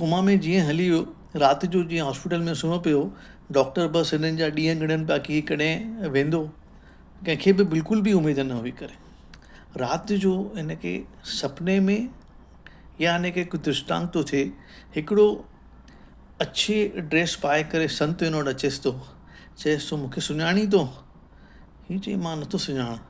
Coma ۾ جيئن هلي ويو. رات جو جيئن هاسپيٽل ۾ سمهيو پيو هو. ڊاڪٽر بس هنن جا ڏينهن ڳڻن پيا ڪي ڪڏهن ويندو. ڪنهن کي به بلڪل به اميد نه هئي ڪري. رات جو هن کي سپني ۾ يا هن کي ڪو درشٽانت ٿو ٿئي. هڪڙو اڇي ڊريس پائي ڪري سنت هن وٽ اچيس ٿو. چئيس ٿو مون کي سڃاڻين ٿو؟ هي چئي مان نه ٿو سڃاڻان.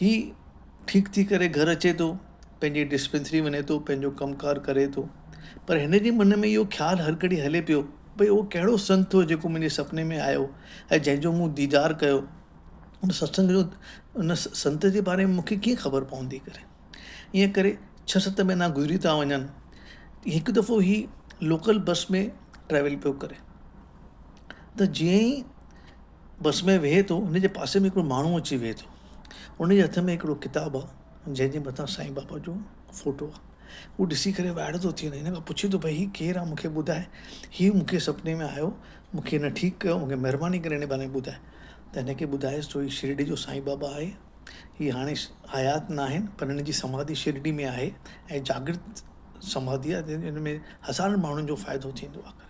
هي ٺيڪ ٿي ڪري گهر اچي ٿو، پنهنجي ڊسپينسري وڃي ٿو، پنهنجو ڪم ڪار ڪري ٿو، پر هن جي من ۾ اهو خيال هر گهڙي هلي پيو، ڀئي اهو ڪهڙو سنت هو جيڪو منهنجي سپني ۾ آيو ۽ جنهن جو مون ديدار ڪيو، ان ستسنگ جو ان سنت جي باري ۾ مون کي ڪيئن خبر پوندي ڪري. ائين ڪري ڇهه ست مهينا گذري ٿا وڃن. هڪ دفعو هي لوڪل بس ۾ ٽريول پيو ڪري ته جيئن ئي بس ۾ ويهي ٿو ان جي پاسي ۾ هڪڙو ماڻهو اچي ويهي ٿو ان جي هٿ ۾ هڪڙو ڪتاب آهي جنهن جي مٿان سائين بابا جو فوٽو آهي هو ڏسي ڪري وائڙو ٿو ٿي وڃي ان کان پڇي ٿو ڀئي هي ڪير آهي مونکي ٻڌاء هي مونکي سپني ۾ آيو مونکي هن ٺيڪ ڪيو مونکي مهرباني ڪري هن باري ۾ ٻڌاء ته هن کي ٻڌايس ٿو هي شرڊي جو سائين بابا آهي هي هاڻي حيات نه آهن پر هن جي سماڌي شرڊي ۾ آهي ۽ جاگرت سماڌي آهي جنهن ۾ هزارن ماڻهن جو فائدو ٿيندو آهي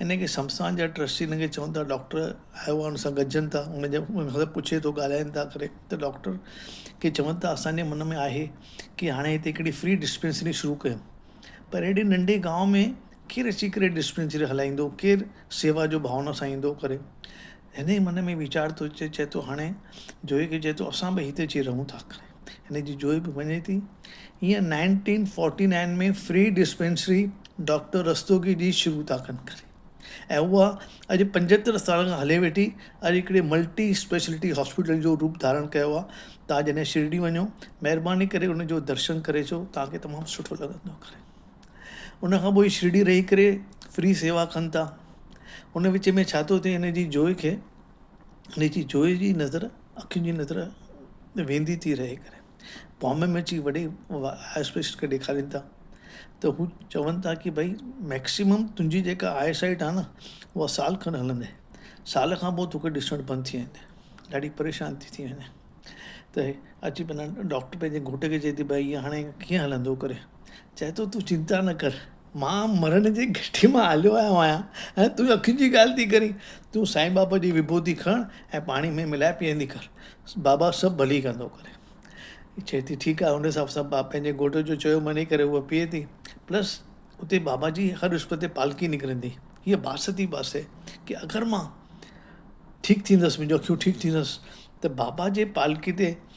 ان کي شمشان جا ٽرسٽي ان کي چون ٿا ڊاڪٽر آيو آهي ان سان گڏجن ٿا ان جا ان کان پڇي ٿو ڳالهائن ٿا ڪري ته ڊاڪٽر کي چون ٿا اسان جي من ۾ آهي ڪي هاڻي هتي هڪڙي فري ڊسپينسري شروع ڪيون پر اهڙي ننڍي گاؤن ۾ ڪير اچي ڪري ڊسپينسري هلائيندو ڪير سيوا جو ڀاونا سان ايندو ڪري هن جي من ۾ ويچار ٿو اچي چي ٿو هاڻي جوهي کي چي ٿو اسان به هتي اچي رهون ٿا ڪري هن جي جوئي به وڃي ٿي. هيء nineteen forty nine ۾ free dispensary doctor Rastogi جي شروع ٿا ڪن ڪري ۽ اها اڄ پنجهتر سالن کان هلي ويٺي اڄ هڪڙي ملٽي اسپيشلٽي هاسپيٽل جو روپ ڌارڻ ڪيو آهي توهان جڏهن شرڊي وڃو مهرباني ڪري ان جو درشن ڪري اچو توهان کي تمام سٺو لڳندو ڪري ان کان پوء شرڊي رهي ڪري فري سيوا ڪن ٿا ان وچ ۾ ڇا ٿو ٿئي هن جي جوئي کي هن جي جويي جي نظر اکين جي نظر ويندي ٿي رهي ڪري بامبي ۾ اچي وڏي اسپيشلسٽ کي ڏيکارين ٿا ته هو چون ٿا ڪي ڀئي ميڪسيمم تنهنجي جيڪا آئي سائيٽ آهي نه هو سال کن هلندي سال کان پوء توکي ڏسڻ بند ٿي ويندي ڏاڍي پريشان ٿي ٿي وڃي ته اچي پنهنجا ڊاڪٽر پنهنجي گهوٽ کي چئي ٿي ڀئي هاڻي ڪيئن هلندو ڪري چئي ٿو تون چنتا نه ڪر مان مرڻ جي گهٽي مان هليو آيو آهيان ۽ تون اکين جي ڳالهه ٿي ڪرين. تون سائين بابا جي وڀوتي کڻ ۽ پاڻي ۾ ملائي پيئندي ڪر. بابا سڀ ڀلي ڪندو ڪري. چئي ٿي ٺيڪ آهي. ان حساب سان پنهنجي گهوٽ جو چيو مڃي ڪري هوء پيئي ٿي. پلس اتي بابا جي هر وسپت تي پالڪي نڪرندي. هيء باس ٿي باسي ڪي اگر مان ٺيڪ ٿيندس، منهنجون اکيون ٺيڪ ٿيندس ته بابا جي پالڪي تي